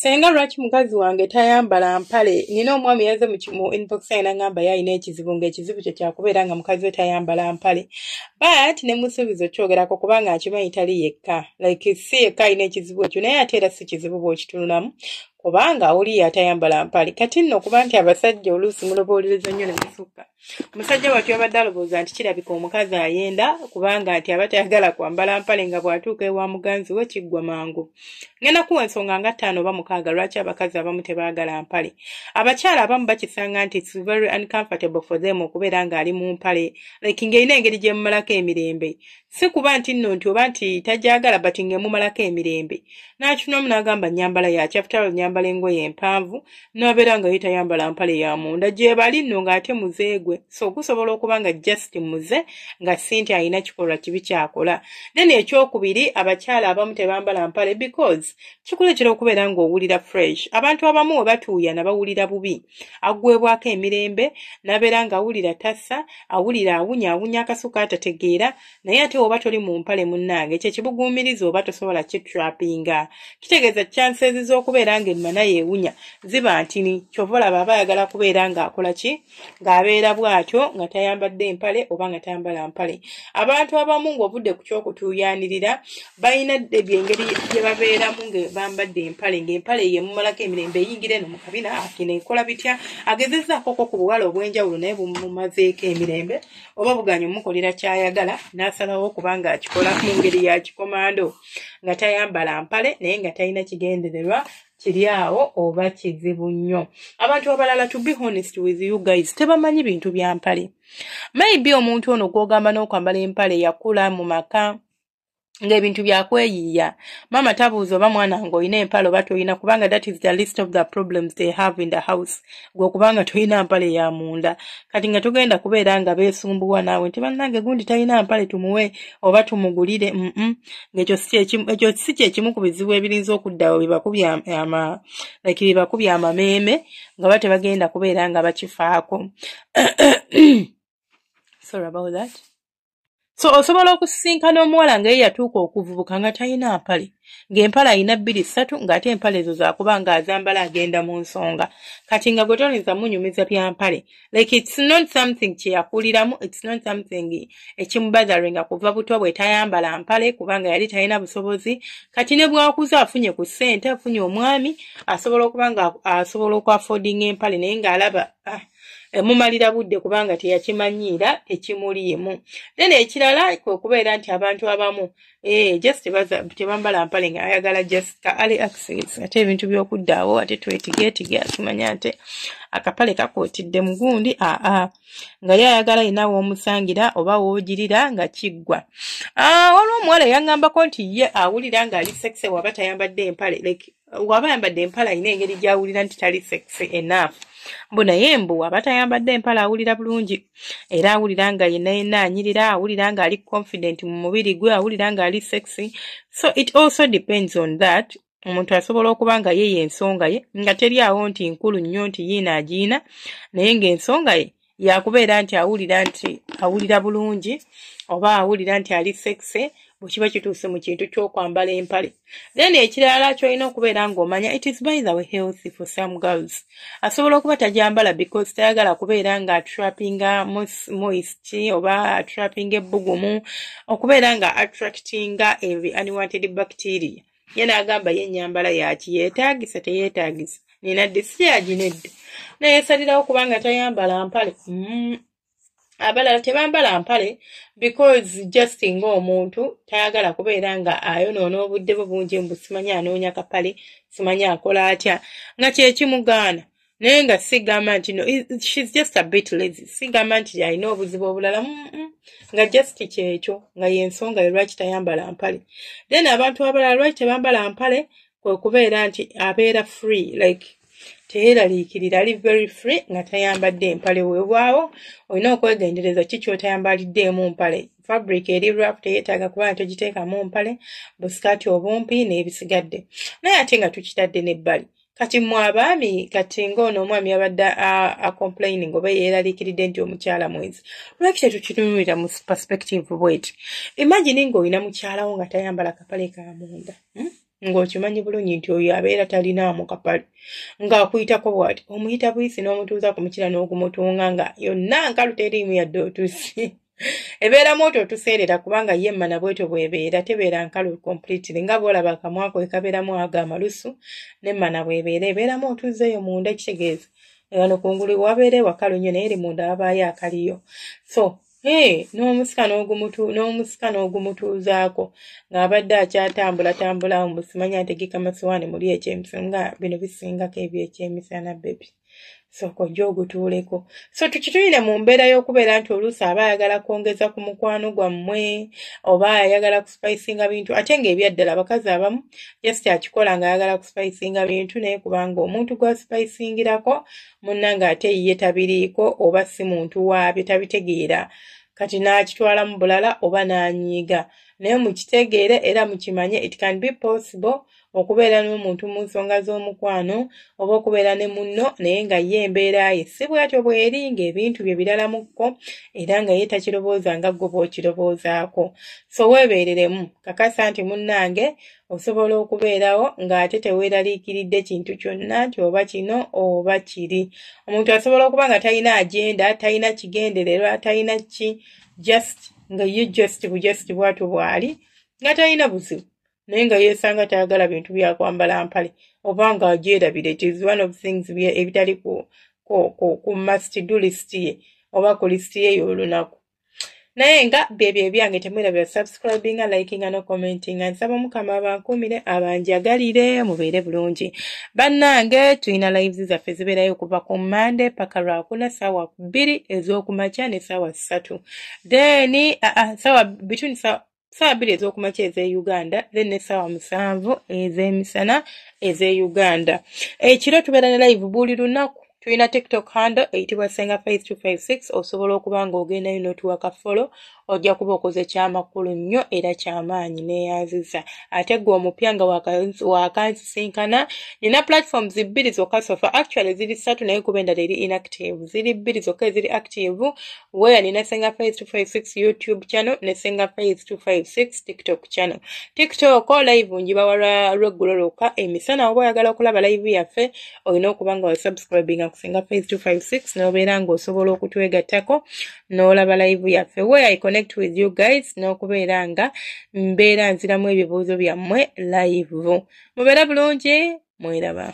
senga lwaki mukazi wange tayambala mpale nina omwami yaze mu inbox yange nangamba yalina ekizibu ngaekizibu kye kyakubeera nga mukazi we tayambala mpale but ne musuubiza okyogerako kubanga akimanyi tali yekka like si yekka alina ekizibu ekyo naye ate era si kizibu bwokitunulamu kubanga oli yatayambala mpale kati nno kuba nti abasajja oluusi muloboolereza nnyo nemusukka omusajja watu yabadde alowooza nti kirabika omukazi ayenda kubanga nti aba tayagala kwambala mpale nga bw'atuuka ewa muganzi we kiggwa mangu ngenda kuwa ensonga nga ttaano oba mukaaga lwaki abakazi abamu tebaagala mpale abakyala abamu bakisanga nti its very uncomfortable for them okubeera ng'ali mu mpale like ng'erina engeri gyemumalako emirembe si kuba nti nno nti oba nti tagyagala but ng'emumalako emirembe n'akinoomu n'agamba nyambala yakyafutalo nyambala engoye empanvu n'abeera nga ye tayambala mpale ya munda gyebali nno ng'ate muze gwe so gusobola okuba nga just muze nga si nti alina kikolwa kibi kyakola then ekyokubiri abakyala abamu tebambala mpale because kikuleetera okubeera ng'owulira fresh abantu abamu we batuuyana bawulira bubi aggwebwako emirembe n'abeera ng'awulira tassa awulira awunya awunya akasuka atategeera naye ate oba toli mu mpale munnange ekyo ekibuguumiriza oba tosobola kitrapinga kitegeeza chances z'okubeera ng'ennyuma naye ewunya ziba ntini kyova olaba aba ayagala kubeera ng'akola ki ng'abeera bw'atyo nga tayambadde mpale oba nga tayambala mpale abantu abamu ng'ovudde ku ky'okutuuyanirira balina debi engeri gye babeeramu nga bambadde empale ng'empale ye mumalako emirembe eyingira eno mu kabina akina ekola bitya agezezaako ko ku buwala obw'enjawulo naye bumumazeeko emirembe oba buganya omukolera ky'ayagala n'asalawo okuba ng'akikola mu ngeri ya kikomando nga tayambala mpale naye nga talina kigendererwa kiri awo oba kizibu nnyo abantu abalala to be honest with you guys tebamanyi bintu bya mpale maybe omuntu ono gw'ogamba n'okwambala empale yakula mu maka ng'ebintu byakweyiiya maama tabuuza oba mwana nga olina empala oba tolina kubanga that is the list of the problems they have in the house gwe okubanga tolina mpale ya munda kati nga tugenda kubeera nga beesumbuwa naawe nti bannange gundi talina mpale tumuwe oba tumugulire mm ng'ekyo ekyo si kyekimu ku bizibu ebirinza okuddawo bibakubya ama like bibakubya amameeme nga ba tebagenda kubeera nga bakifaako sorry about that so osobola okusisinkana omuwala nga ye yatuuka okuvubuka nga talina mpale ng'empale alina bbiri ssatu ng'ate empale ezo zakuba nga azambala agenda mu nsonga kati nga gwe toyinza munyumiza bya mpale like its not something kye yakuliramu its not something ekimubatheringa kuva buto bwe tayambala mpale kubanga yali talina busobozi kati ne bwakuza afunye ku ssente afunye omwami asobola okuba nga asobola okuafodinga empale naye ng'alaba ah. Eh, mumalira budde kubanga teyakimanyiira ekimuliimu then ekirala kwe kubeera nti abantu abamu eh, just tebambala mpale nga ayagala just ka ali access ate ebintu by'okuddaawo ate twetigeetige akimanya nti akapale kakuutidde mugundi aa nga ye ayagala yina woomusangira oba woogirira nga kiggwa ah, waliwo omuwala yaŋŋambako nti ye awulira ng'ali sexe waba tayambadde empale like waba ayambadde empala alina engeri gyawulira nti tali sexy enough mbu naye mbu waba tayambadde empala awulira bulungi era awulira nga yena yena anyirira awulira nga ali confident mu mubiri gwe awulira nga ali sexy so it also depends on that omuntu asobola okuba nga ye yensonga ye nga teri awo nti nkulu nnyo nti yiina agiina naye ngaensonga ye yakubeera nti awulira nti awulira bulungi oba awulira nti ali sexe bwekiba kituuse mu kintu kyokwambala empale then ekirala kyolina okubeera ngaomanya it is by the way health for some girls asobola okuba tajambala because tayagala kubeera nga attrapinga moist oba attrapinga ebbugumu okubeera nga attractinga every unwanted bacteria ye n'agamba ye ennyambala yaki yeetaagisa teyeetaagisa nina disiyaji nedda nayesalirawo kubanga tayambala mpale mm. abalala tebambala mpale because just nga omuntu tayagala kubeera nga ayonoona obudde bwe bungi mbu simanyi anoonya kapale simanyi akola atya nga kyekimugaana naye nga sigamba nti no shes just a bit lazy sigamba nti alina obuzibu obulala nga just kyekyo nga yensonga lwaki tayambala mpale then abantu abalala lwaki tebambala mpale kwekubeera nti abeera free like teyeraliikirira ali very free nga tayambadde empale wewaawo olina okwegendereza ki kyotayambaliddeemu mpale fabric eri rap teyetaaga kuba nga togiteekamu mpale busikaati obumpi n'ebisigadde naye ate nga tukitadde n'ebbali kati mwe abaami kati ngaono omwami abadde acomplaining oba yeeraliikiridde nti omukyala mwenzi lwaki tetukinunulira mu perspective bweti imagine ngaolina mukyalawo nga tayambala kapale ka munda hmm? ng'okimanyi bulungi nti oyo abeera talinaamu kapale ng'akuyitako bwati omuyita buyisi n'omutuuza ku mukira n'okumutunga nga yonna nkalu teriimu yadde otusi ebeeramu otwo otuseerera kubanga ye emmana bwetyo bwebeera tebeera nkalu completely nga bwolaba akamwako ekabeeramu ago amalusu nemmana bwebeera ebeeramu otuzeeyo munda ekitegeeza wano kungulu wabeera ewakalu nnyo naye eri munda wabaayo akaliyo so n'omusika n'omusika n'ogumutuuzaako ng'abadde akyatambula tambula omusimanya ategeka masiwaani muli ekyemisana nga bino bisingako ebyekyemisana bebi sooka ojja ogutuuleko so tukituyire mu mbeera y'okubeera nti oluusi aba ayagala kwongeza ku mukwano gwammwe oba ayagala kusipayisinga bintu ate ng'ebyaddala abakazi abamu just akikola ng'ayagala kusipayisinga bintu naye kubanga omuntu gwasipayisingirako munna ng'ate ye tabiriiko oba si muntu waabyo tabitegeera kati n'akitwalamu bulala oba n'anyiiga naye mukitegeere era mukimanye it can be possible okubeera n'omuntu mu nsonga z'omukwano oba okubeera ne munno naye nga ye embeera ye si bwatyo bweri ng'ebintu bye biralamukko era nga ye takirowooza nga ggwe bw'okirowoozaako so weebeereremu kakasa nti munnange osobola okubeerawo ng'ate teweeraliikiridde kintu kyonna nti oba kino oba kiri omuntu asobola okuba nga talina agenda talina kigendererwa talina ki just nga ye just bujust bwatyo bw'ali nga talina buzibu naye nga yesanga tayagala bintu byakwambala mpale oba nga agyerabira ekyo is one of things ebitali ku, ku, ku, ku must do list ye oba ku list ye y'olunaku naye nga byebyo ebyange temwera bya subscribinga likinga no commentinga nsaba omukama abankuumire abanjagalire mubeere bulungi bannange tulina lives zaffe zibeerayo okuva ku mande paka lwakuna saawa bbiri ez'okumakya ne saawa ssatu then uh, uh, saawa between saawa saawa bbiri ez'okumakya ez'e uganda then n'essaawa musanvu ez'emisana ez'e uganda ekiro tubeera ne live buli lunaku tulina tiktok handle eyitibwa senga 5256 osobola okuba ng'ogendayo n'otuwa ka folo ojja kuba okoze kyamakulu nnyo era kyamaanyi neyanziza ate gwe omupya nga wakansisinkana nina platforms bbiri zokka sofa actually ziri ssatu naye kuba endala eri inactive ziri bbiri zokka eziri active where nina senga faith 256 youtube channel ne senga faith 256 tiktok channel tiktok oh, live njiba wala lweggulo lwokka emisana eh, oba oyagala okulaba live yaffe olina okuba nga wasubscribinga ku senga faith 256 nobeera nga osobola okutwegattako n'olaba live yaffe where i connect with you guys n'okubeera nga mbeera nziramu ebibuuzo byammwe live mubeera bulungi mweraba